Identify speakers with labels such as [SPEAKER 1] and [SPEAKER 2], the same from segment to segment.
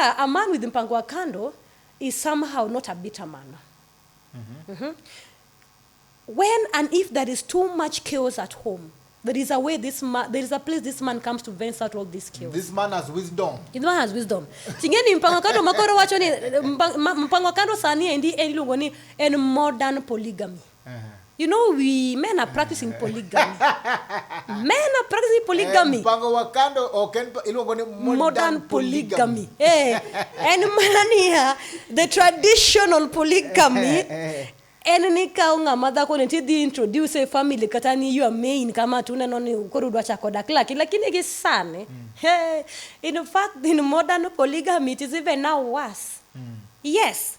[SPEAKER 1] a, a man with mpango wa kando is somehow not a bitter man Mhm. when and if there is too much chaos at home there is a way this man there is a place this man comes to vents out all this chaos This man has wisdom.
[SPEAKER 2] This man has wisdom
[SPEAKER 1] tingeni mpango kando makoro wacho ni mpa- ma- mpango kando sani endi en iluongo ni en modern polygamy You know, we men are practicing polygamy. men are practicing polygamy. Eh, mpango wa kando ok
[SPEAKER 2] en iluongo ni modern, modern polygamy.
[SPEAKER 1] polygamy. hey, eh, en mana niya the traditional polygamy eh, en ni kawo ng'ama dhako ni tidhi introduce e family kata ni your main kama to uneno ni koro udwa chako dak laki lakini gi sani mm. hey, in fact in modern polygamy it is even now worse mm. yes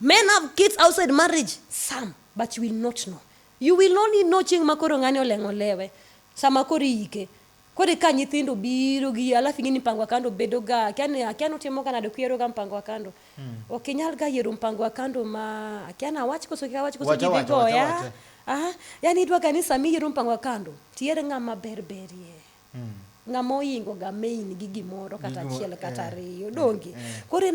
[SPEAKER 1] Men have kids outside marriage, some, but you will not know. You will only know chieng' ma koro ng'ani oleng'o lewe, sama koro iyike. Koro ka nyithindo biro gi alafu ing'e ni mpango wa kando bedo ga akia ni akia ni utimo ga nade kuyiero ga mpango wa kando. Ok inyal ga yiero mpango wa kando ma akia ni awach koso kik awach koso Wacha, ji dhi wacha, wacha, goya. wacha. Aha, yani idwa ga ni sama iyiero mpango wa kando, tiyier ng'ama ber berie. Ng'ama oingo ga main gi gimoro kata Gimoro, achiel kata eh, ariyo, donge? Koro ineno